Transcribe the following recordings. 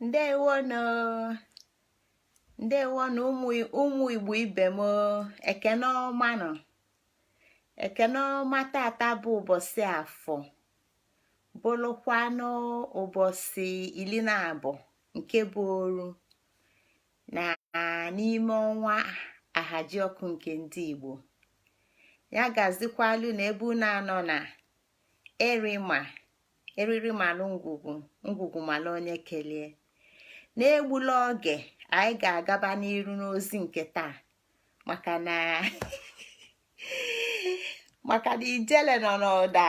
ndewonụ ndewonụ ụmụ igbo ibe m ekene ọma nụ ekene ọma tata bụ ụbọsị afọ bụlụkwanụ ụbọsị ili na abụọ nke bụ oru na n'ime ọnwa ahaji ọkụ nke ndị igbo ya gazikwalu na ebe unu anọ na erima eriri malụ ngwugwu ngwugwu malụ onye kelie n'egbula oge anyị ga-agaba n'iru n'ozi nke taa maka na maka na ijele nọ n'ụda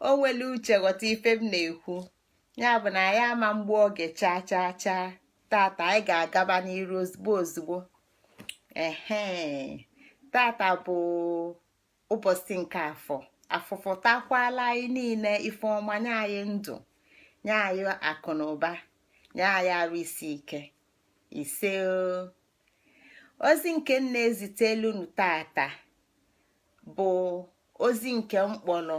o nwere uche ghọta ife m na-ekwu ya bụ na anyị ama egbu oge chaa chaa chaa tata anyị ga-agaba n'iru ozigbo ozigbo ehe tata bụ ụbọsị nke afọ afọ fọtakwalụ anyị niile ife ọma nye anyị ndụ nye anyị akụ na ụba nye anyị arụ isi ike ise ozi nke m na-ezitelụ unu tata bụ ozi nke m kpọlọ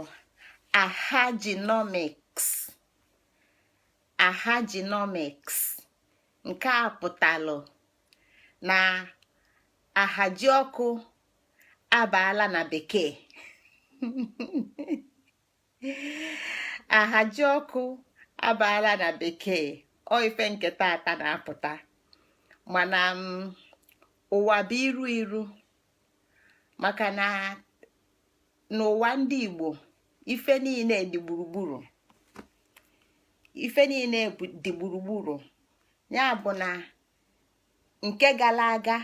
ahajinomiks ahajinomiks nke a pụtalụ na ahaji ọkụ abaala na bekee ahaji ọkụ abaala na bekee ọ ife nke tata na-apụta mana mm, ụwa bụ iru iru maka na n'ụwa ndị Igbo ife niile dị gburugburu ife niile dị gburugburu ya bụ na nke gala aga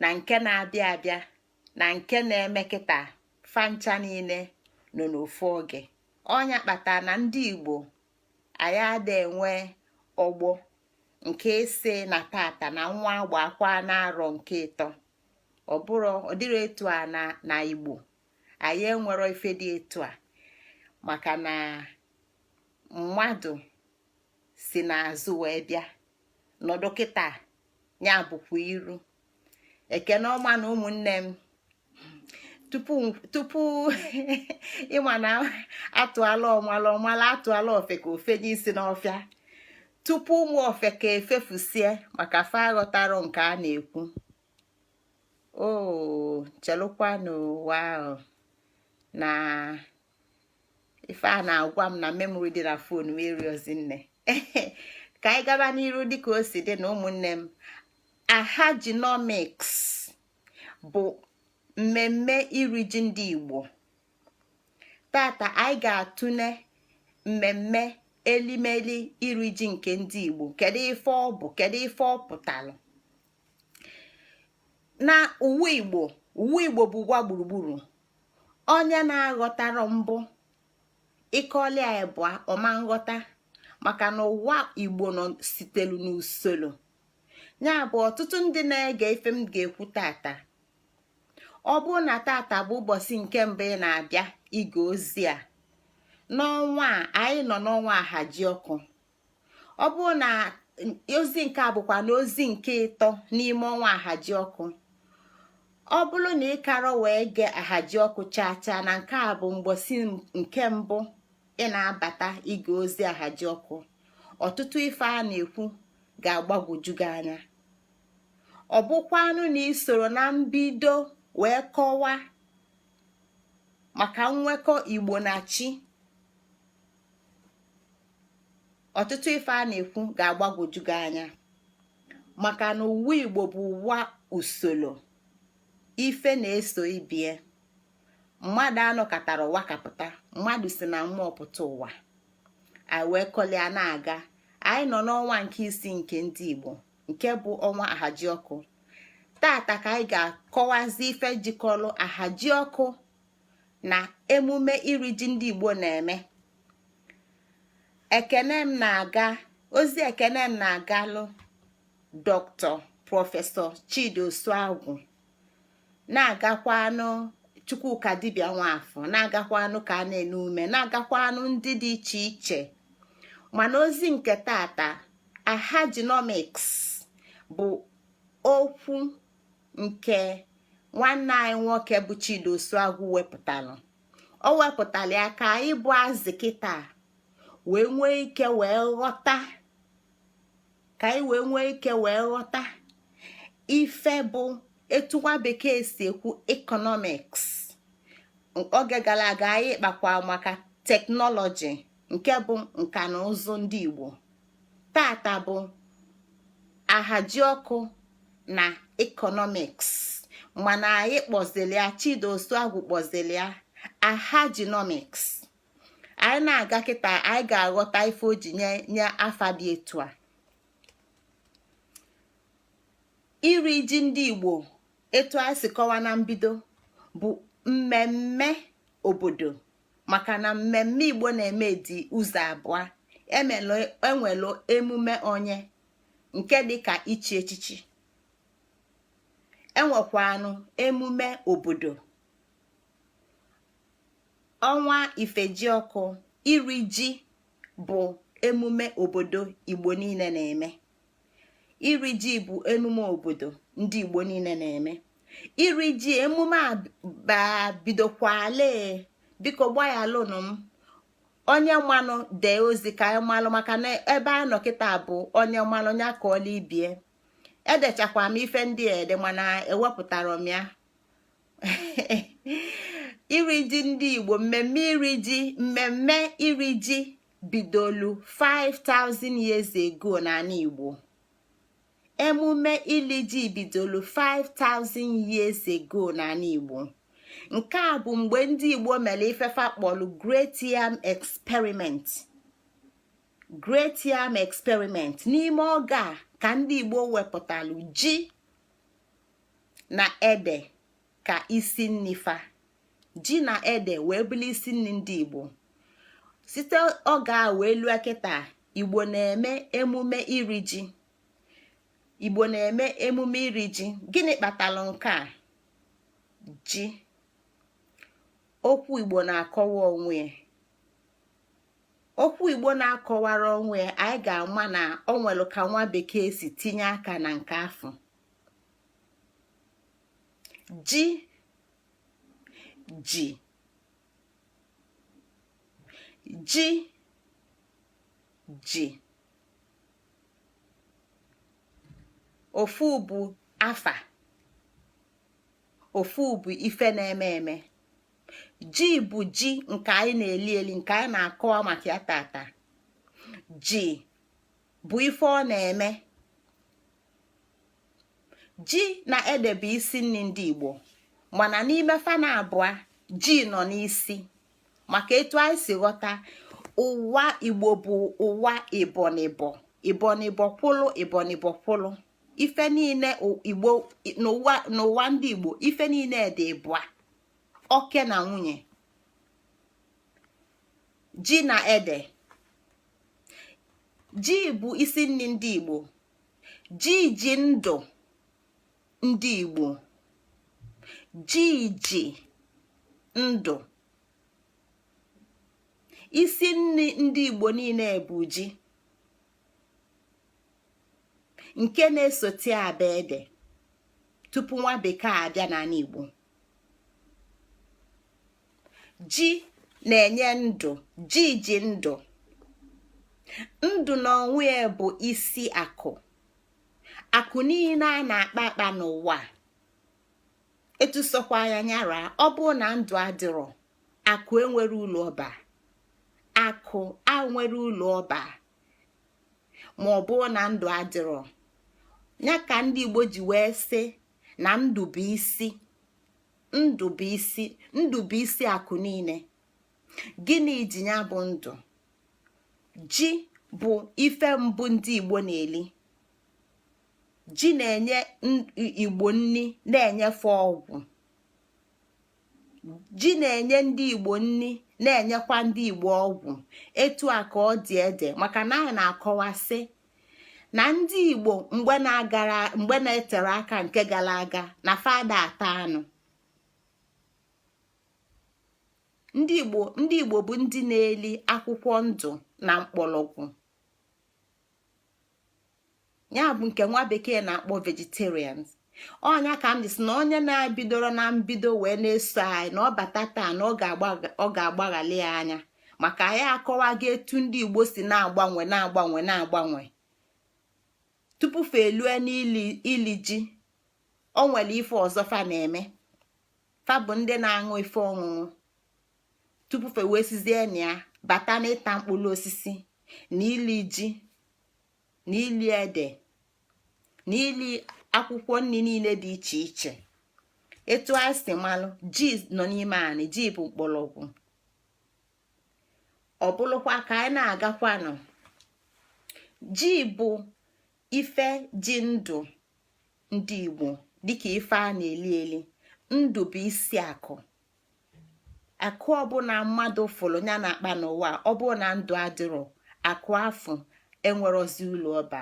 na nke na-abịa abịa na nke na-eme kịta fa ncha niile nọ n'ofu oge ọ nya kpata na ndị igbo anyị ada enwe ọgbọ nke ise na tata na nwa agba akwa n'arọ nke ịtọ ọ bụrọ ọ dịrọ etu a na na igbo anyị enwero ife dị etu a maka na mmadụ si n'azụ wee bịa nọdụ kịta ya bụkwa iru ekene ọma nụ ụmụnne m tupu ịma na atụalụ ọmalụ ọ malụ atụalụ ofeke o fenye isi n'ọfịa tupu ụmụ ofeke efefusie maka fa aghọtarọ nke a na-ekwu o chelụkwanụ ụwa ahụ na ife a na-agwa m na memory dị na phone m eriozi nne ka anyị gaba n'iru dịka o si dị na ụmụnne m ahajinomics bụ mmemme iri ji ndị Igbo tata anyị ga-atụle mmemme elimeli iri ji nke ndị Igbo kedu ife ọ bụ kedu ife ọ pụtara na ụwa Igbo ụwa Igbo bụ ụwa gburugburu onye na-aghọtarọ mbụ ị kọlị ya ịbụa ọ ma nghọta maka na ụwa igbo nọ sitelu n'usoro ya bụ ọtụtụ ndị na-ege ife m ga-ekwu tata ọ bụrụ na tata bụ ụbọsị nke mbụ ị na-abịa ige ozi a n'ọnwa a anyị nọ n'ọnwa ahaji ọkụ ọ bụrụ na ozi nke a bụkwanụ ozi nke ịtọ n'ime ọnwa ahaji ọkụ ọ bụrụ na ị karọ wee gee ahaji ọkụ chaa chaa na nke a bụ mbọsị nke mbụ ị na-abata ige ozi ahaji ọkụ ọtụtụ ife a na-ekwu ga-agbagwoju gị anya ọ bụkwanụ na i sorọ na mbido wee kọwaa maka nnwekọ igbo na chi ọtụtụ ife a na-ekwu ga-agbagwoju gị anya maka na ụwa igbo bụ ụwa usoro ife na-eso ibie mmadụ anọkatarọ ụwa kapụta mmadụ si na mmụọ pụta ụwa anyị wee kọlịa na-aga anyị nọ n'ọnwa nke isii nke ndị igbo nke bụ ọnwa ahaji ọkụ tata ka anyị ga-akọwazi ife jikọrọ ahaji ọkụ na emume iri ji ndị Igbo na-eme ekene m na-aga ozi ekene m na-agalụ doctor professor Chidi Osuagwu na-agakwanụ Chukwukadibia Nwafor na-agakwanụ ka Anene Umeh na-agakwanụ ndị dị iche iche mana ozi nke tata ahajinomics bụ okwu nke nwanne anyị nwoke bụ Chidi Osuagwu wepụtalụ o wepụtara ya ka anyị bụ azị kịta wee nwee ike wee ghọta ka anyị wee nwee ike wee ghọta ife bụ etu nwa bekee si ekwu economics oge gara aga anyị kpakwa maka technology nke bụ nka na ụzụ ndị Igbo tata bụ ahaji ọkụ na economics mana anyị kpọzili ya Chidi Osuagwu kpọzili ya ahajinomics anyị na-aga kịta anyị ga-aghọta ife o ji nye ya afa dị etu a iri ji ndị igbo etu anyị si kọwa na mbido bụ mmemme obodo maka na mmemme igbo na-eme dị ụzọ abụa e nwelu emume onye nke dịka ichi echichi e nwekwanụ emume obodo ọnwa ifejiọkụ iri ji bụ emume obodo igbo niine na-eme iri ji bụ emume obodo ndị igbo niine na-eme iri ji emume a bidokwale biko gbaghalụnụ m onye manụ dee ozi ka anyị malụ maka na ebe a nọ kịta bụ onye manụ ya akọọla ibie edechakwa m ife ndị ede mana ewepụtara m ya iri ji ndị igbo mmemme iri ji mmemme iri ji bidolu 5000 years ago n'anị Igbo emume ili ji bidolu 5000 years ago n'anị Igbo nke a bụ mgbe ndị Igbo mere ife fa kpọlụ Great Yam Experiment Great Yam Experiment n'ime oge a ka ndị Igbo wepụtalụ ji na ede ka isi nni fa ji na ede wee bụlụ isi nni ndị igbo site oge a wee lue kịta igbo na-eme emume iri ji igbo na-eme emume iri ji gịnị kpatalụ nke a ji okwu igbo na-akọwa onwe ya okwu igbo na-akọwara onwe ya anyị ga-ama na ọ nwelu ka nwa bekee si tinye aka na nke afọ ji ji ji ji ofu bụ afa ofu bụ ife na-eme eme ji bụ ji nke anyị na-eli eli nke anyị na-akọwa maka ya tata ji bụ ife ọ na-eme ji na ede bụ isi nni ndị igbo mana n'ime fa naabụa ji nọ n'isi maka etu anyị si ghọta ụwa igbo bụ ụwa ịbọ n'ịbọ ịbọ n'ịbọ kwụlụ ịbọ n'ịbọ kwụlụ ife niine igbo n'ụwa ndị igbo ife niine dị ịbụa oke na nwunye ji na ede ji bụ isi nni ndị igbo ji ji ndụ ndị igbo ji ji ndụ isi nni ndị igbo niine bụ ji nke na-esote abụ ede tupu nwa bekee abịa n'anị igbo ji na-enye ndụ ji ji ndụ ndụ na onwe ya bụ isi akụ akụ niile a na-akpa akpa n'ụwa etu sọkwa ya nya ra ọ bụ na ndụ adịrọ akụ enwerọ ụlọ ọba akụ enwerọ ụlọ ọba ma ọ bụ na ndụ adịrọ ya ka ndị Igbo ji wee sị na ndụ bụ isi ndụ bụ isi ndụ bụ isi akụ niile gịnị ji ya bụ ndụ ji bụ ife mbụ ndị igbo na-eli ji na-enye igbo nri na-enye fa ọgwụ ji na-enye ndị igbo nri na-enyekwa ndị igbo ọgwụ etu a ka ọ dị ede maka na anyị na-akọwa sị na ndị igbo mgbe na-agara mgbe na-etere aka nke gara aga na fa ada ata anụ ndị igbo ndị igbo bụ ndị na-eli akwụkwọ ndụ na mkpọrọgwụ ya bụ nke nwa bekee na-akpọ vegetarians ọ nya ka m ji sị na onye na-ebidorọ na mbido wee na-eso anyị na ọ bata taa na ọ ga-agbaghalị ya anya maka anyị akọwago etu ndị igbo si na-agbanwe na-agbanwe na-agbanwe tupu fa elue n'ili ji o nwere ife ọzọ fa na-eme fa bụ ndị na-aṅụ ife ọṅụṅụ tupu fa wee sizie na ya bata n'ịta mkpụrụ osisi na ili ji na ili ede na ili akwụkwọ nri niile dị iche iche etu anyị si malụ ji nọ n'ime anyị ji bụ mkpọrọgwụ ọ bụrụkwa ka anyị na-agakwanụ ji bụ ife ji ndụ ndị Igbo dịka ife a na-eli eli ndụ bụ isi akụ akụ ọbụla mmadụ fụrụ ya na-akpa n'ụwa ọ bụrụ na ndụ adịrọ akụ afụ enwerọzi ụlọ ọba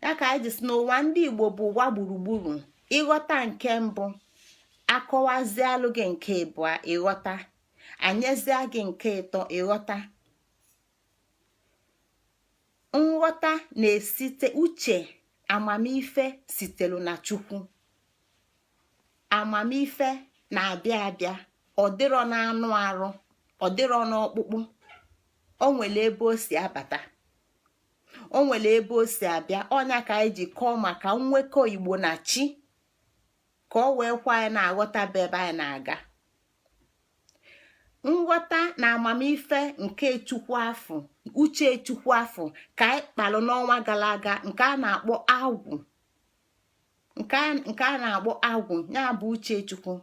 ya ka anyị ji sị na ụwa ndị igbo bụ ụwa gburugburu ị ghọta nke mbụ a kọwazialụ gị nke ịbụa ị ghọta anyezia gị nke ịtọ ị ghọta nghọta na-esite uche amamife sitelu na chukwu amamife na-abịa abịa ọ dịrọ n'anụ arụ ọ dịrọ n'ọkpụkpụ o nwere ebe o si abata o nwere ebe o si abịa ọ nya ka anyị ji kọọ maka mmekọ igbo na chi ka o wee kwe anyị na-aghọta bụ ebe anyị na-aga nghọta na amamife nke chukwu afụ uche chukwu afụ ka anyị kpalụ n'ọnwa gara aga nke a na-akpọ agwụ nke a na-akpọ agwụ ya bụ uchechukwu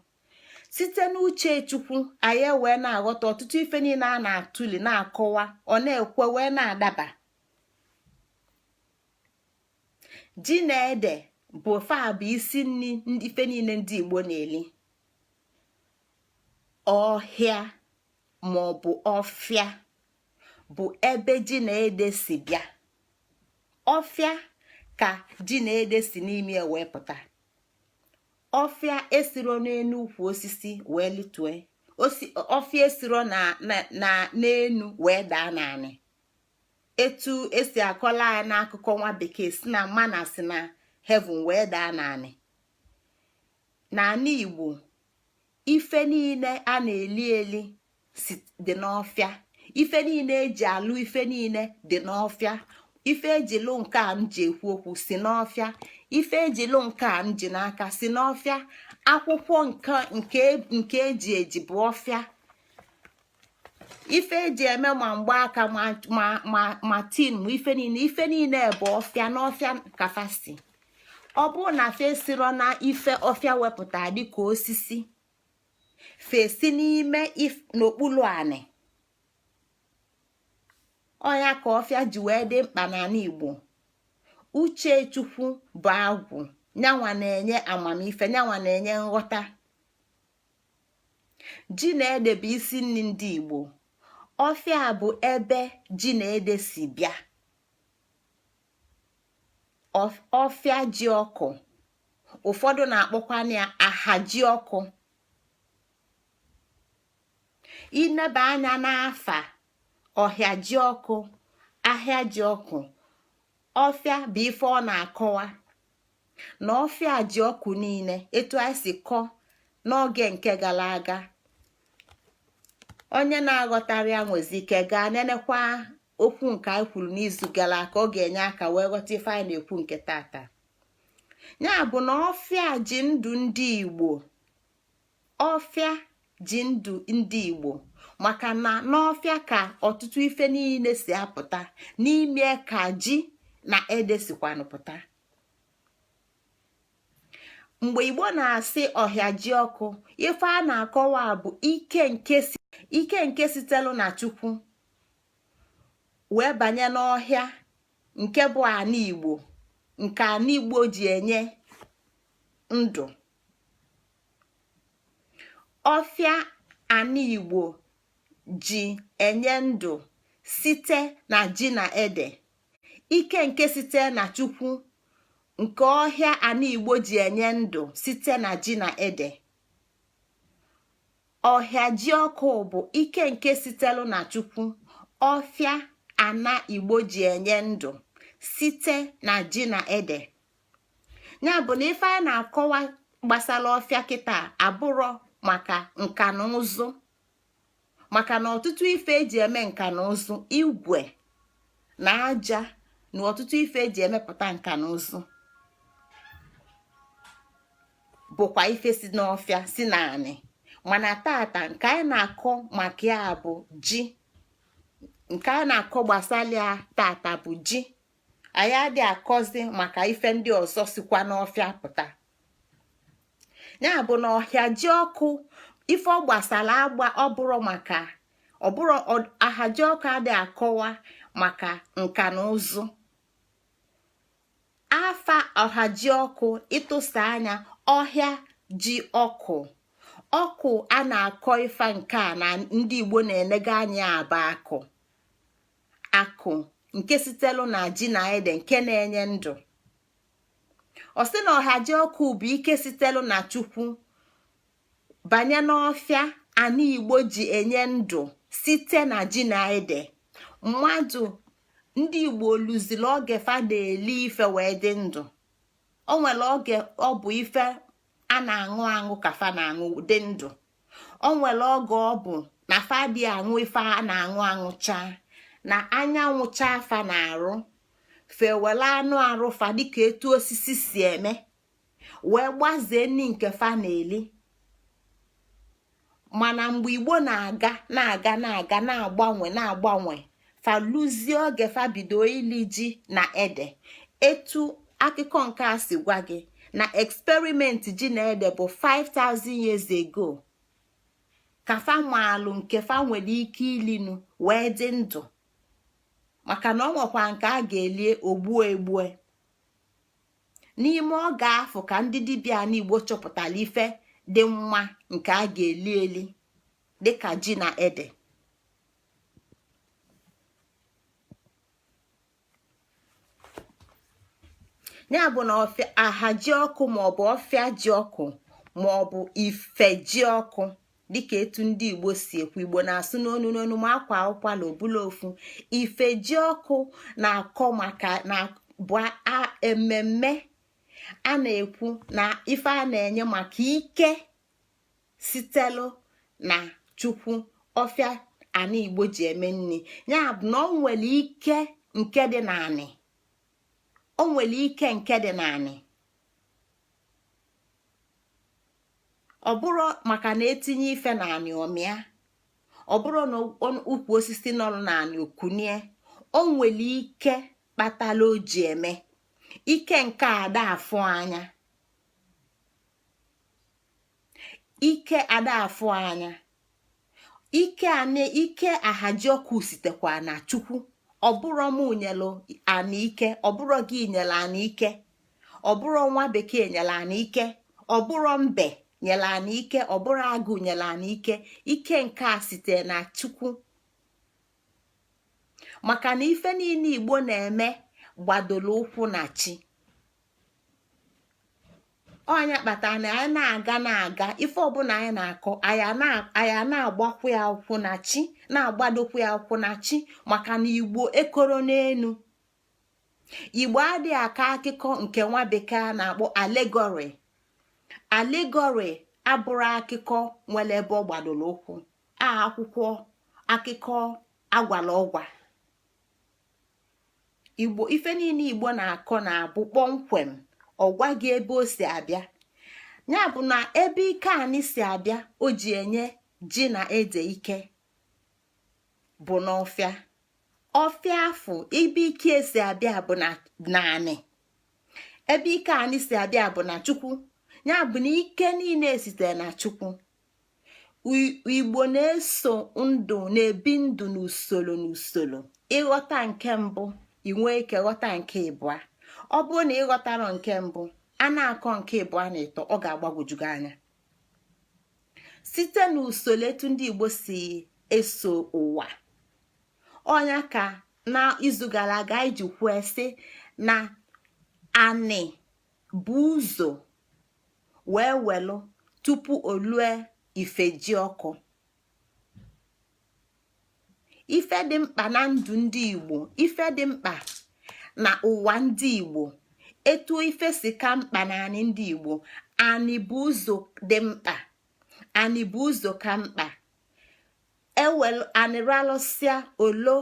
site n'uchechukwu anyị wee na-aghọta ọtụtụ ife niine a na-atụli na-akọwa ọ na-ekwe wee na-adaba ji na ede bụ fa bụ isi ife niine ndị Igbo na-eli ọhịa maọbụ ọfịa bụ ebe ji na ede si bịa ọfịa ka ji na ede si n'ime ya wee pụta ọfịa esiro n'enu ukwu osisi wee litue ọfịa esiro n'enu wee daa n'anị etu esi akọlụ anyị n'akụkọ nwa bekee sị na manna si na heaven wee daa n'anị n'anị igbo ife niine a na-eli eli dị n'ọfịa ife niine eji alụ ife niine dị n'ọfịa ife eji lụ nke a m ji ekwu okwu si n'ọfịa ife eji lụ nke a m ji n'aka si n'ọfịa akwụkwọ nke eji eji bụ ọfịa ife eji eme ma mgbaaka ma tin ma ife niine bụ ọfịa n'ọfịa ka fa si ọ bụrụ na fa esiro na ife ọfịa wepụta dịka osisi fa esi n'ime n'okpulu anị ọ ya ka ọfịa ji wee dị mkpa n'anị igbo uche chukwu bụ agwụ nyanwa na-enye amamife nyanwa na-enye nghọta ji na ede bụ isi nni ndị igbo ọfịa bụ ebe ji na ede si bịa ọfịa ji ọkụ ụfọdụ na-akpọkwa ya aha ji ọkụ i neba anya n'afa ọhịa ji ọkụ ahịa ji ọkụ ọfịa bụ ife ọ na-akọwa na ọfịa ji ọkụ niine etu anyị si kọ n'oge nke gala aga onye na-aghọtarọ ya nwezi ike gaa nenekwa okwu nke anyị kwuru n'izu gala aga ọ ga-enye aka wee ghọta ife anyị na-ekwu nke tata ya bụ na ọfịa ji ndụ ndị Igbo ọfịa ji ndụ ndị Igbo maka na n'ọfịa ka ọtụtụ ife niine si apụta n'ime ya ka ji na ede sikwanụ pụta mgbe igbo na-asị ọhịa ji ọkụ ife a na-akọwa bụ ike nke sitelu na chukwu wee banye n'ọhịa nke bụ anị igbo nke anị igbo ji enye ndụ ọfịa anị igbo ji enye ndụ site na ji na ede ike nke site na chukwu nke ọhịa ana igbo ji enye ndụ site na ji na ede ọhịa ji ọkụ bụ ike nke sitelu na chukwu ọfịa ana igbo ji enye ndụ site na ji na ede ya bụ na ife a na-akọwa gbasara ọfịa kịta abụrọ maka nka na ụzụ maka na ọtụtụ ife eji eme nka na ụzụ igwe na aja na ọtụtụ ife eji emepụta nka na ụzụ bụkwa ife si n'ọfịa si n'anị mana tata nke anyị na-akọ maka ya bụ ji nke anyị na-akọ gbasara ya tata bụ ji anyị adị akọzi maka ife ndị ọzọ sikwa n'ọfịa pụta ya bụ na ọhịa ji ọkụ ife ọ gbasara agba ọ bụrọ maka ọ bụrọ ahaji ọkụ adị akọwa maka nka na ụzụ afa ọhaji ọkụ ịtụsa anya ọhịa ji ọkụ ọkụ a na-akọ ife nke a na ndị igbo na-enega anya a bụ akụ akụ nke sitelu na ji na ede nke na-enye ndụ ọ sị na ọha ji ọkụ bụ ike sitelu na chukwu banye n'ọfịa ana igbo ji enye ndụ site na ji na ede mmadụ ndị igbo luziri oge fa na-eli ife wee dị ndụ o nwere oge ọ bụ ife a na-aṅụ aṅụ ka fa na-aṅụ dị ndụ o nwere oge ọ bụ na fa adị aṅụ ife a na-aṅụ aṅụcha na anyanwụ chaa fa n'arụ fa ewere anụ arụ fa dịka etu osisi si eme wee gbazie nni nke fa na-eli mana mgbe igbo na-aga na-aga na-aga na-agbanwe na-agbanwe fa luzie oge fa bido ili ji na ede etu akụkọ nke a si gwa gị na experiment ji na ede bụ 5000 years ago ka fa maalụ nke fa nwere ike ilinu wee dị ndụ maka na o nwekwa nke a ga-elie o gbue egbue n'ime oge afụ ka ndị dibịa n'igbo chọpụtara ife dị mma nke a ga-eli eli dịka ji na ede ya bụ na ọfịa aha ji ọkụ maọbụ ọfịa ji ọkụ maọbụ ife ji ọkụ dịka etu ndị igbo si ekwu igbo na-asụ n'onu n'onu ma a kwaa ụkwala ọ bụlụ ofu ife ji ọkụ na-akọ maka na bụ ememme a na-ekwu na ife a na-enye maka ike sitelu na chukwu ọfịa anị igbo ji eme nni ya bụ na o nwelu ike nke dị n'anị o nwelu ike nke dị n'anị ọ bụrụ maka na etinye ife n'anị ọ mịa ọ bụrụ na ukwu osisi nọ n'anị o kunie o nwelu ike kpatala o ji eme ike nke ada afụ anya ike ada afụ anya ike anị ike ahajiọkụ sitekwa na chukwu ọ bụrọ mụ nyelu anị ike ọ bụrọ gị nyelu anị ike ọ bụrọ nwa bekee nyelu anị ike ọ bụrọ mbe nyelu anị ike ọ bụrọ agụ nyelu anị ike ike nke a site na chukwu maka na ife niine igbo na-eme gbadoro ụkwụ na chi ọ nya kpata na anyị na-aga na-aga ife ọ bụla anyị na-akọ anyị na-agbakwu ya ụkwụ na chi na-agbadokwu ya ụkwụ na chi maka na igbo ekoro n'enu igbo adị akọ akụkọ nke nwa bekee a na-akpọ allegory allegory abụrọ akụkọ nwere ebe ọ gbadoro ụkwụ a akwụkwọ akụkọ agwala ọgwa igbo ife niine igbo na-akọ na-abụ kpọmkwem ọ gwa gị ebe o si abịa ya bụ na ebe ike anị si abịa o ji enye ji na ede ike bụ n'ọfịa ọfịa afụ ebe ike ya si abịa bụ na anị ebe ike anị si abịa bụ na chukwu ya bụ na ike niine sitere na chukwu igbo na-eso ndụ na-ebi ndụ n'usoro n'usoro ị ghọta nke mbụ i nwee ike ghọta nke ịbụa ọ bụrụ na ị ghọtarọ nke mbụ a na-akọ nke ịbụa na ịtọ ọ ga-agbagwoju gị anya site n'usoro etu ndị igbo si eso ụwa ọ nya ka n'izu gara aga anyị ji kwuo sị na anị bu ụzọ wee welu tupu o lue ifejiọkụ ife dị mkpa na ndụ ndị igbo ife dị mkpa na ụwa ndị igbo etu ife si ka mkpa na anị ndị igbo anị bu ụzọ dị mkpa anị bu ụzọ ka mkpa e welu anị ralụsịa o luo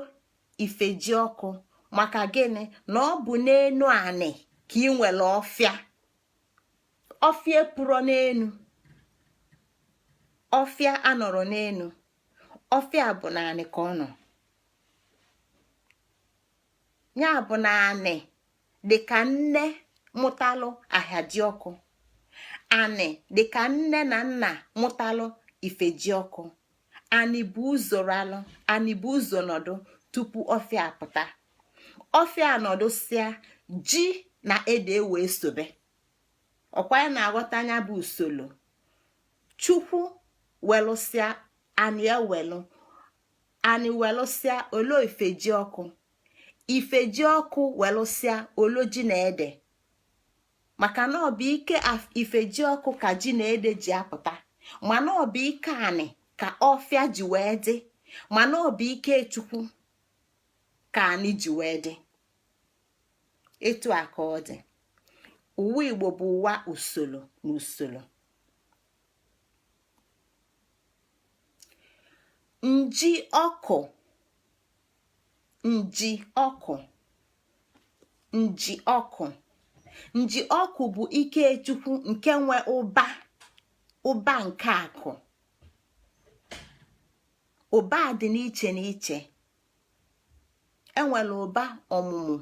ifejiọkụ maka gịnị na ọ bụ n'enu anị ka e nwelu ọfịa ọfịa epurọ n'enu ọfịa anọrọ n'enu ọfịa bụ n'anị ka ọ nọ ya bụ na anị dị ka nne mụtalụ ahaji ọkụ anị dị ka nne na nna mụtalụ ifeji ọkụ anị bu ụzọ ralụ anị bu ụzọ nọdụ tupu ọfịa pụta ọfịa nọdụsịa ji na ede wee sobe ọkwa ị na-aghọta ya bụ usolo chukwu welụsịa anị ewelụ anị welụsịa o luo ifeji ọkụ ifeji ọkụ welụsịa o luo ji na ede maka na ọ bụ ike ifeji ọkụ ka ji na ede ji apụta mana ọ bụ ike anị ka ọfịa ji wee dị mana ọ bụ ike chukwu ka anị ji wee dị etu a ka ọ dị ụwa igbo bụ ụwa usolo na usolo nji ọkụ nji ọkụ nji ọkụ nji ọkụ bụ ike chukwu nke nwe ụba ụba nke akụ ụba dị n'iche n'iche e nwelụ ụba ọmụmụ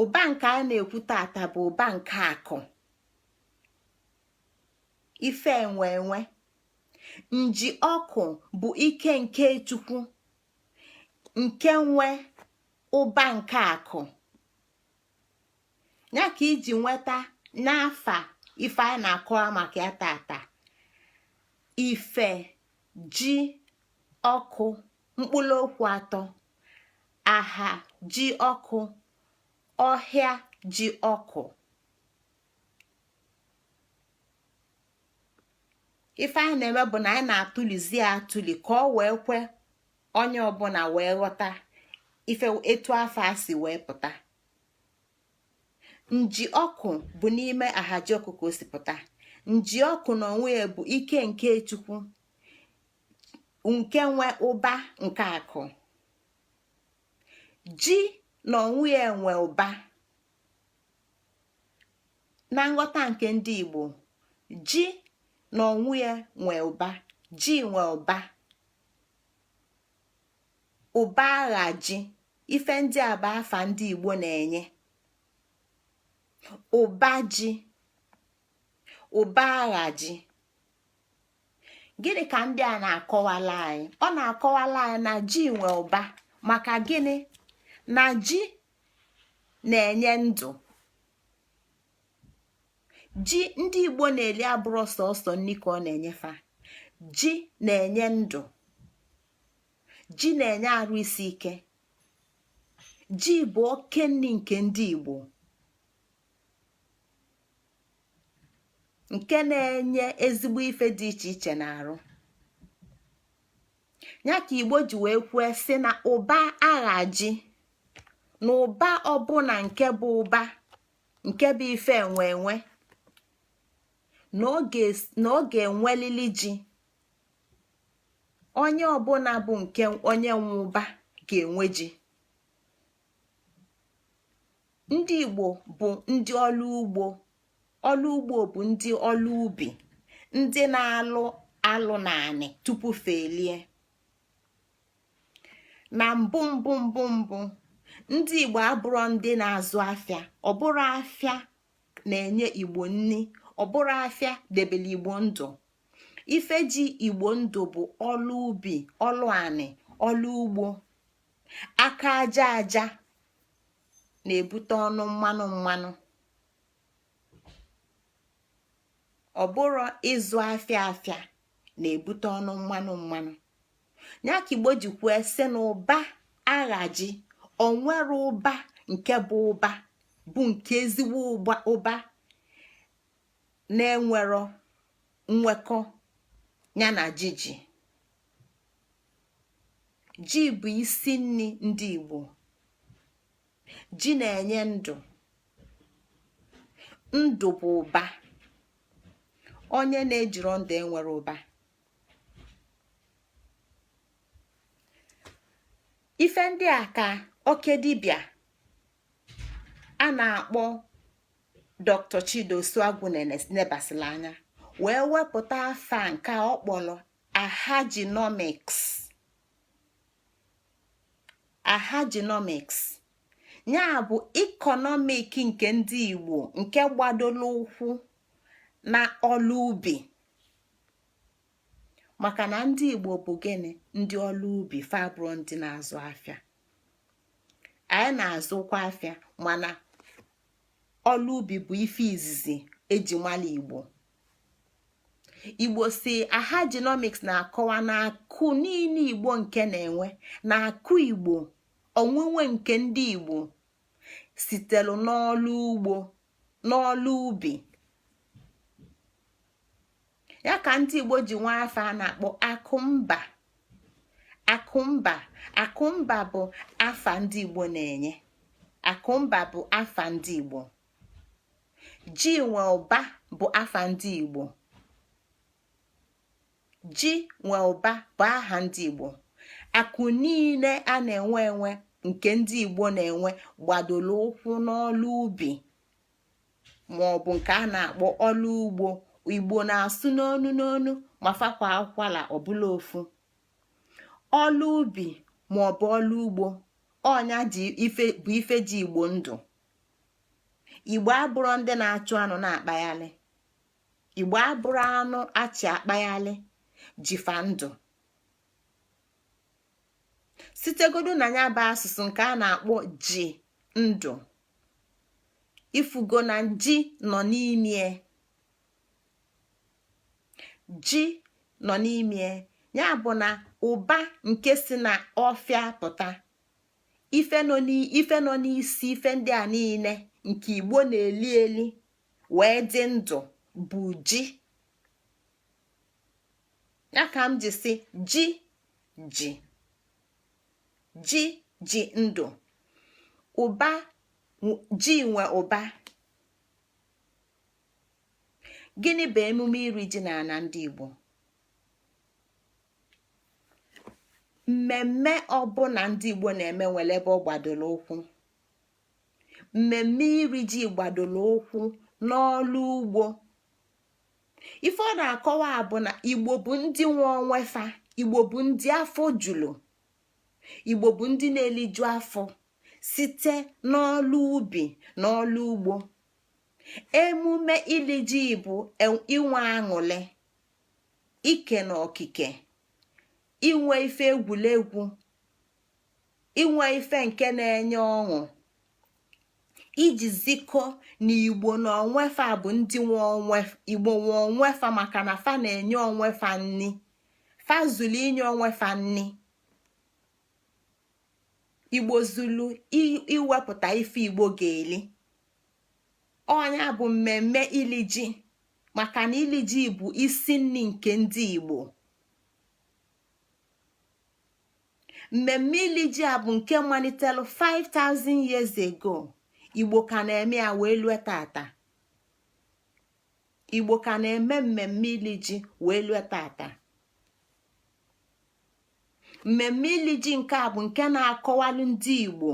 ụba nke a na-ekwu tata bụ ụba nke akụ ife enwe enwe nji ọkụ bụ ike nke chukwu nke nwe ụba nke akụ ya ka i ji nweta n'afa ife anyị na-akọwa maka ya tata ife ji ọkụ mkpụrụ okwu atọ aha ji ọkụ ọhịa ji ọkụ ife anyị na-eme bụ na anyị na-atụlizi atụli ka o wee kwe onye ọbụla wee ghọta ife etu afa a si wee pụta nji ọkụ bụ n'ime ahaji ọkụ ka o si pụta nji ọkụ na onwe ya bụ ike nke chukwu nke nwe ụba nke akụ ji na onwe ya nwe ụba na nghọta nke ndị Igbo ji na onwe ya nwe ụba ji nwe ụba ụba aha ji ife ndị a bụ afa ndị Igbo na-enye ụba ji ụba aha ji gịnị ka ndị a na-akọwalụ anyị ọ na-akọwalụ anyị na ji nwe ụba maka gịnị na ji na-enye ndụ ji ndị igbo na-eli abụrọ sọsọ nni ka ọ na-enye fa ji na-enye ndụ ji na-enye arụ isi ike ji bụ oke nni nke ndị igbo nke na-enye ezigbo ife dị iche iche n'arụ ya ka igbo ji wee kwue sị na ụba agha ji na ụba ọbụna nke bụ ụba nke bụ ife enwe enwe na ọ ga-enwelili ji onye ọbụna bụ nke onye nwe ụba ga-enwe ji ndị igbo bụ ndị ọlụ ugbo ọlụ ugbo bụ ndị ọlụ ubi ndị na-alụ alụ n'anị tupu fa elie na mbụ mbụ mbụ mbụ ndị igbo abụrọ ndị na-azụ afịa ọ bụrọ afịa na-enye igbo nni ọ bụrọ afịa debele igbo ndụ ife ji igbo ndụ bụ ọlụ ubi ọlụ anị ọlụ ugbo aka aja aja na-ebute ọnụ mmanụ mmanụ ọ bụrọ ịzụ afịa afịa na-ebute ọnụ mmanụ mmanụ ya ka igbo ji kwue sị na ụba agha ji o nwerọ ụba nke bụ ụba bụ nke ezigbo ụba na-enwerọ nwekọ ya na ji ji ji bụ isi nni ndị igbo ji na-enye ndụ ndụ bụ ụba onye na-ejirọ ndụ enwerọ ụba ife ndị a ka oke dibịa a na-akpọ dr chidi osuagwu nebasịlị anya wee wepụta afa nke ọ kpọlọ ahajinomics ahajinomics ya bụ ikonomik nke ndị igbo nke gbadoro ụkwụ na ọlụ ubi maka na ndị igbo bụ gịnị ndị ọlụ ubi fa abụrọ ndị na-azụ afịa anyị na-azụkwa afịa mana ọlụ ubi bụ ife izizi e ji mala igbo igbo si ahajinomics na-akọwa na akụ niine igbo nke na-enwe na akụ igbo onwunwe nke ndị igbo sitelu n'ọlụ ugbo n'ọlụ ubi ya ka ndị Igbo ji nwee afa a na-akpọ akụmba akụmba akụmba bụ afa ndị Igbo na-enye akụmba bụ afa ndị Igbo ji nwe ụba bụ afa ndị Igbo ji nwe ụba bụ aha ndị Igbo akụ niile a na-enwe enwe nke ndị Igbo na-enwe gbadolu ụkwụ n'ọlụ ubi ma ọ bụ nke a na-akpọ ọlụ ugbo igbo na-asụ n'onu n'onu ma fa kwaa ụkwala ọ bụlụ ofu ọlụ ubi ma ọ bụ ọlụ ugbo ọ nya bụ ife ji igbo ndụ igbo abụrọ ndị na-achụ anụ na-akpaghalị igbo abụrọ anụ a chị akpaghalị ji fa ndụ sitegodu na nya bụ asụsụ nke a na-akpọ ji ndụ ifugo na ji nọ n'ime ji nọ n'ime ya bụ na ụba nke si na ọfịa pụta ife nọ n'isi ife ndị a niile nke igbo na-eli eli wee dị ndụ bụ ji ya ka m ji sị ji ji ji ji ndụ ji nwe ụba gịnị bụ emume iri ji n'ana ndị Igbo mmemme ọbụla ndị Igbo na-eme nwelu ebe ọ gbadolu ụkwụ mmemme iri ji gbadolu ụkwụ n'ọlụ ugbo ife ọ na-akọwa bụ na igbo bụ ndị nwe onwe fa igbo bụ ndị afọ julu igbo bụ ndị na-eliju afọ site n'ọlụ ubi na ọlụ ugbo emume ili ji bụ e, inwe aṅụlị ike na okike inwe ife egwulegwu inwe ife nke na-enye ọṅụ iji zikọ na igbo na onwe fa bụ ndị nwe onwe igbo nwe onwe fa maka na fa na-enye onwe fa nni fa zulu inye onwe fa nni igbo zulu iwepụta ife igbo ga-eli ọ nya bụ mmemme ili ji maka na ili ji bụ isi nni nke ndị igbo mmemme ili ji a bụ nke malitelu 5000 years ago igbo ka na-eme ya wee lue tata igbo ka na-eme mmemme ili ji wee lue tata mmemme ili ji nke a bụ nke na-akọwalụ ndị igbo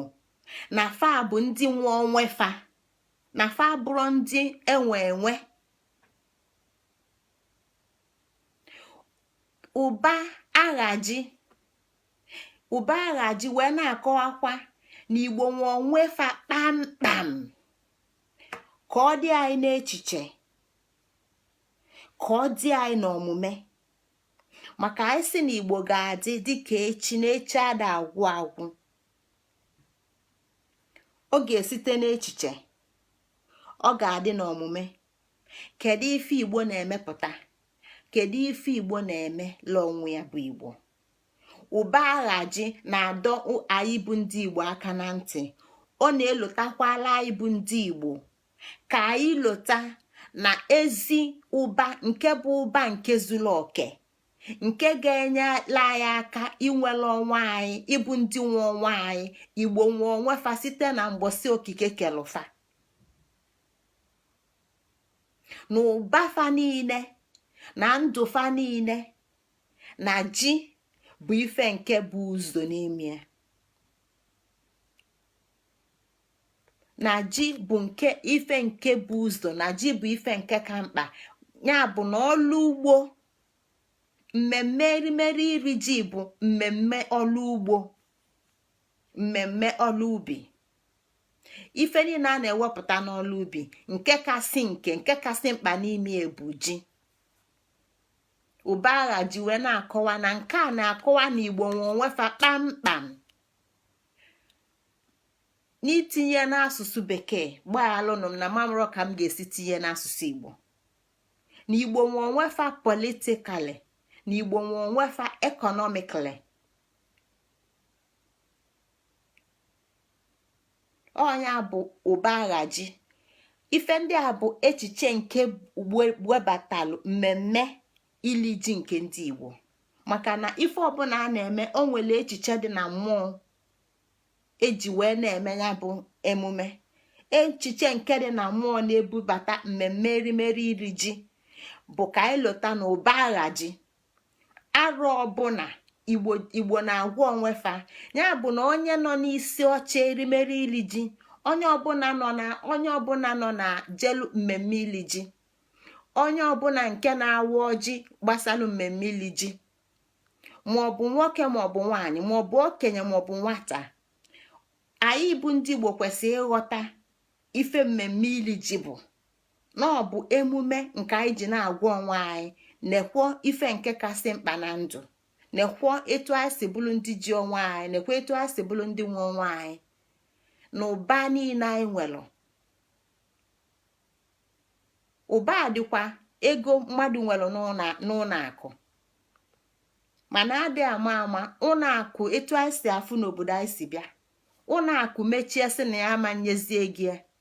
na fa bụ ndị nwe onwe fa na fa abụrọ ndị e nwe enwe ụba aghaji ụba aghaji wee na-akọwakwa na igbo nwe onwe fa kpamkpam ka ọ dị anyị n'echiche ka ọ dị anyị n'omume maka anyị sị na igbo ga-adị dịka echi na echi ada agwụ agwụ ọ ga-esite n'echiche ọ ga-adị n'omume kedu ife igbo na-emepụta kedu ife igbo na-emelu onwe ya bụ igbo ụba agha ji na-adọ anyị bụ ndị igbo aka na ntị ọ na-elotakwalụ anyị bụ ndị igbo ka anyị lota na ezi ụba nke bụ ụba nke zulu oke nke ga-enyelu anyị aka inwelu onwe anyị ịbụ ndị nwe onwe anyị igbo nwe onwe fa site na mgbọsị okike kelu fa na ụba fa niile na ndụ fa niile na ji bụ ife nke bu ụzọ n'ime na ji bụ ife nke bu ụzọ na ji bụ ife nke ka mkpa ya bụ na ọlụ ugbo mmemme erimeri iri ji bụ mmemme ọlụ ugbo mmemme ọlụ ubi ife niile a na-ewepụta n'ọlụ ubi nke kasị nke nke kasị mkpa n'ime ya bụ ji ụba agha ji wee na-akọwa na nke a na-akọwa na igbo nwe onwe fa kpamkpam n'itinye n'asụsụ bekee gbaghalụnụ m na m amarọ ka m ga-esi tinye n'asụsụ igbo na igbo nwe onwe fa politically na igbo nwe onwe fa economically ọ nya bụ ụba aghaji ife ndị a bụ echiche nke webatalụ mmemme ili ji nke ndị Igbo maka na ife ọbụla a na-eme o nwelu echiche dị na mmụọ e ji wee na-eme ya bụ emume echiche nke dị na mmụọ na-ebubata mmemme erimeri ili ji bụ ka anyị lota na ụba agha ji arọ ọbụna igbo na-agwa onwe fa ya bụ na onye nọ n'isi oche erimeri ili ji onye ọbụna nọ na onye ọbụna nọ na jelu mmemme ili ji onye ọbụna nke na-awa ọjị gbasalụ mmemme ili ji maọbụ nwoke maọbụ nwaanyị maọbụ okenye maọbụ nwata anyị bụ ndị igbo kwesịrị ịghọta ife mmemme ili ji bụ na ọ bụ emume nke anyị ji na-agwa onwe anyị nekwọ ife nke kasị mkpa na ndụ nekwọ etu anyị si bụlụ ndị ji onwe anyị nekwọ etu anyị si bụlụ ndị nwe onwe anyị na ụba niine anyị nwelu ụba dịkwa ego mmadụ nwelu n'ụnọ akụ mana adị ama ama ụnọ akụ etu anyị si afụ n'obodo anyị si bịa ụnọ akụ mechie sị na ya ama nyezie gị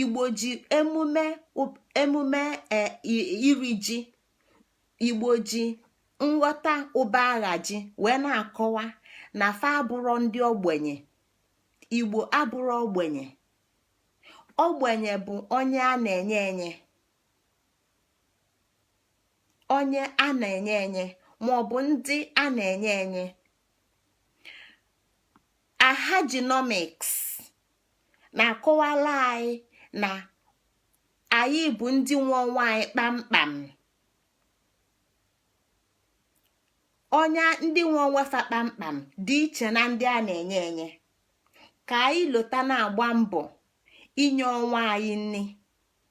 igbo ji emume iri ji igbo ji nghọta ụba ahaji wee na-akọwa na fa abụrọ ndị ogbenye igbo abụrọ ogbenye ogbenye bụ onye a na-enye enye onye a na-enye enye ma ọ bụ ndị a na-enye enye ahajinomiks na-akọwalụ anyị na anyị bụ ndị nwe onwe anyị kpamkpam onye ndị nwe onwe fa kpamkpam dị iche na ndị a na-enye enye ka anyị lota na-agba mbọ inye onwe anyị nri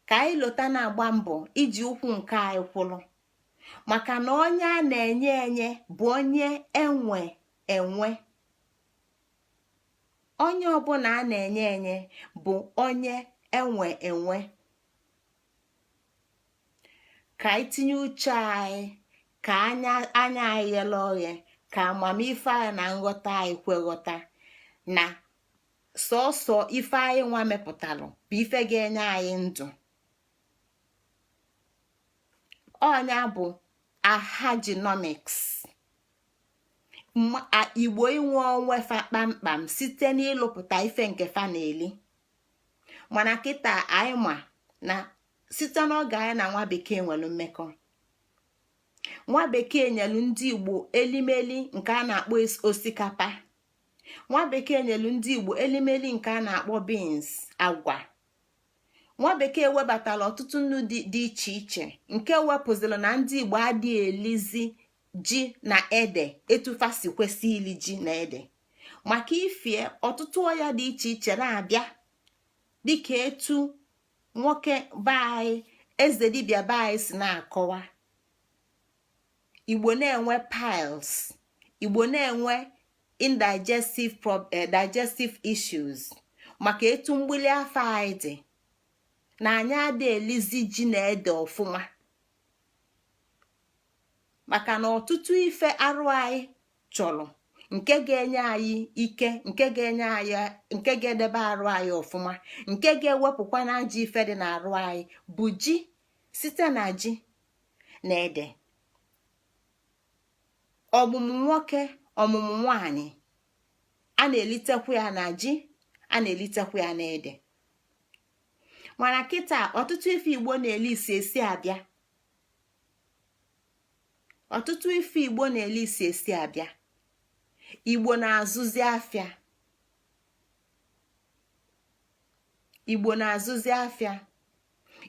ka anyị lota na-agba mbọ iji ụkwụ nke anyị kwụrụ maka na onye a na-enye enye bụ onye e nwe enwe onye ọbụna a na-enye enye bụ onye e nwe enwe ka anyị tinye uche anyị ka anya anyị ghele oghe ka amamife anyị na nghọta anyị kwe ghọta na sọsọ ife anyị nwa mepụtalụ bụ ife ga-enye anyị ndụ ọ nya bụ ahajinomiks igbo inwe onwe fa kpamkpam site n'ịlụpụta ife nke fa na-eli mana kịta anyị ma na site n'oge anyị na nwa bekee nwelu mmekọ nwa bekee nyelu ndị igbo elimeli nke a na-akpọ osikapa nwa bekee nyelu ndị igbo elimeli nke a na-akpọ beans agwa nwa bekee webatara ọtụtụ nni dị iche iche nke wepụziri na ndị igbo adị elizi ji na ede etu fa si kwesị ili ji na ede maka ifi ya ọtụtụ ọya dị iche iche na-abịa dịka etu nwoke be anyị eze dibịa be anyị si na-akọwa igbo na-enwe piles igbo na-enwe indigestive eh, digestive issues maka etu mgbili afọ anyị dị na anyị adị elizi ji na ede ọfụma maka na ọtụtụ ife arụ anyị chọrọ nke ga-enye anyị ike nke ga-enye anyị nke ga-edebe arụ anyị ọfụma nke ga-ewepụkwa na ajọ ife dị n'arụ anyị bụ ji site na ji na ede ọmụmụ nwoke ọmụmụ nwanyị a na-elitekwa ya na ji a na-elitekwa ya na ede mana kịta ọtụtụ ife igbo na-eli si esi abịa ọtụtụ ife igbo na-eli si esi abịa igbo na-azụzi afịa igbo na-azụzi afịa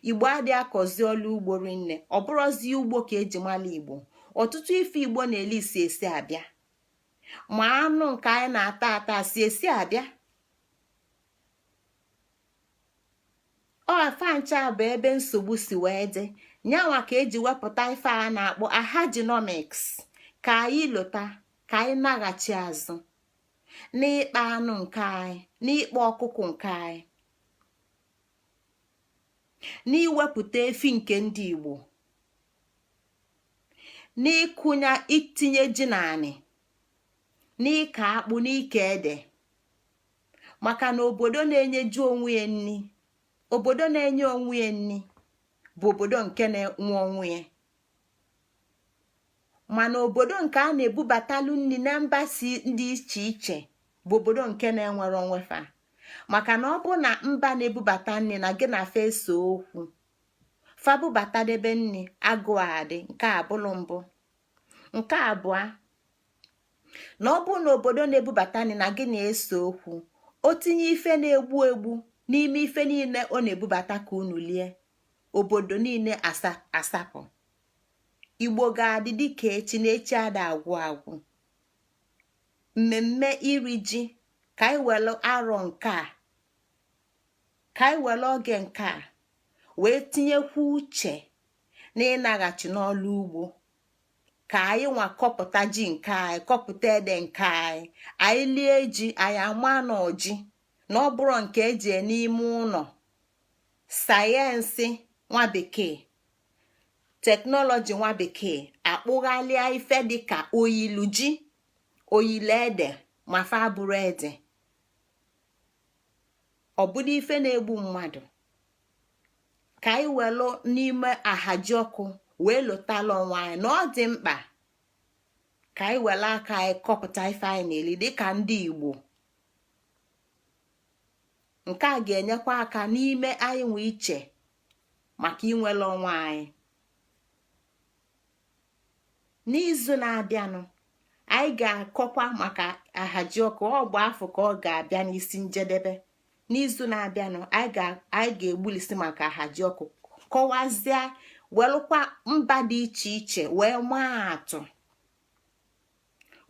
igbo adị akọzi ọlụ ugbo rinne ọ bụrọzi ugbo ka e ji mala igbo ọtụtụ ife igbo na-eli si esi abịa ma anụ nke anyị na-ata ata si esi abịa ọ fa ncha bụ ebe nsogbu si wee dị nya nwa ka e ji wepụta ife a na-akpọ ahajinomics ka anyị lota ka anyị naghachi azụ n'ịkpa anụ nke anyị n'ịkpa ọkụkụ nke anyị n'iwepụta efi nke ndị Igbo n'ịkụnye itinye ji n'anị n'ịkọ akpụ n'ịkọ ede maka na obodo na-enyeju onwe ya nni obodo na-enye onwe ya nni bụ obodo nke na-enwe onwe ya mana obodo nke a na-ebubatalu nni na mba si dị iche iche bụ obodo nke na-enwerọ onwe fa maka na ọ bụ na mba na-ebubata nni na gị na fa ese okwu fa bubatadebe nni agụụ adị nke a bụlụ mbụ nke abụọ na ọ bụrụ na obodo na-ebubata nni na gị na-ese okwu o tinye ife na-egbu egbu n'ime ife niile ọ na-ebubata ka unu lie obodo niile asapụ igbo ga-adị dịka echi na echi ada agwụ agwụ mmemme iri ji ka anyị were arọ nke a ka anyị were oge nke a wee tinyekwu uche na ịnaghachi n'ọlụ ugbo ka anyị nwa kọpụta ji nke anyị kọpụta ede nke anyị anyị lie ji anyị ama na ọ ji na ọ bụrọ nke e jee n'ime ụnọ sayensị nwa bekee teknọlọji nwa bekee akpụghalịa ife dịka oyilu ji oyilu ede ma fa abụrọ ede ọ bụlụ ife na-egbu mmadụ ka anyị welụ n'ime ahajiọkụ wee lotalụ onwe anyị na ọ dị mkpa ka anyị welụ aka anyị kọpụta ife anyị na-eli dịka ndị Igbo nke a ga-enyekwa aka n'ime anyị nwe iche maka inwele onwe anyị n'izu na-abịanụ anyị ga-akọkwa maka ahajiọkụ ọ ebe afụ ka ọ ga-abịa n'isi njedebe n'izu na-abịanụ anyị ga-egbulisi maka ahajiọkụ kọwazie welụkwa mba dị iche iche wee maa atụ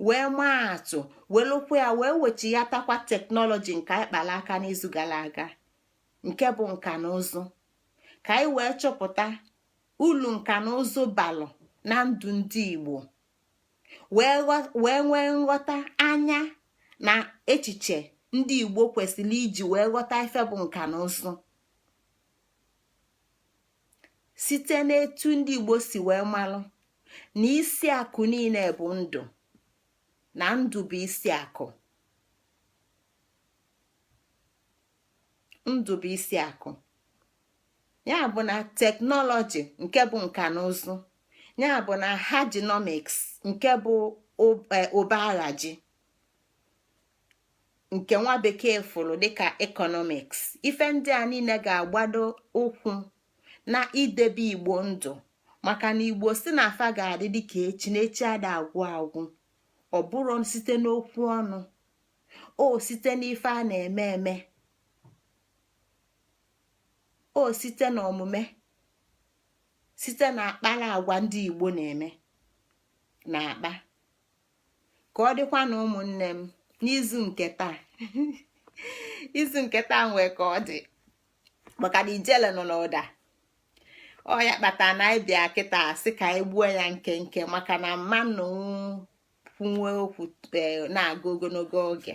wee maa atụ welụkwa ya wee wechighatakwa teknọlọji nke anyị kpalụ aka n'izu galụ aga nke bụ nka na ụzụ ka anyị wee chọpụta ulu nka na ụzụ balụ na ndụ ndị Igbo wee nwee nghọta anya na echiche ndị Igbo kwesịrị iji wee ghọta ife bụ nka na ụzụ site n'etu ndị igbo si wee malụ na isi akụ niine bụ ndụ na ndụ bụ isi akụ ndụ bụ isi akụ ya bụ na teknọlọji nke bụ nka na ụzụ ya bụ na ahajinomiks nke bụ ụba e, ahaji nke nwa bekee fụrụ dịka ekọnọmiks ife ndị a niile ga-agbado ụkwụ na idebe igbo ndụ maka na igbo sị na fa ga-adị dịka echi na echi ada agwụ agwụ ọ bụrọ site n'okwu ọnụ ọ site n'ife a na-eme eme ọ site na omume site na akpala agwa ndị igbo na-eme na-akpa ka ọ dịkwanụ ụmụnne m n'izu nke taa izu nke taa nwee ka ọ dị maka na ijele nọ n'ụda ọ ya kpata na anyị bịa kịta sị ka anyị gbuo ya nkenke maka na mmanwụ kwuwe okwu e, na-aga ogonogo oge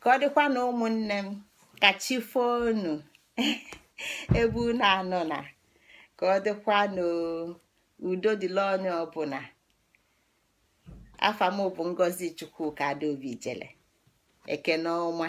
ka ọ dịkwa na ụmụnne m ka chi fo nụ ebe unu anọna ka ọ dịkwa n'udo dịla onye ọbụna afa m bụ ngozi chukwuka adaobi jele ekene ọma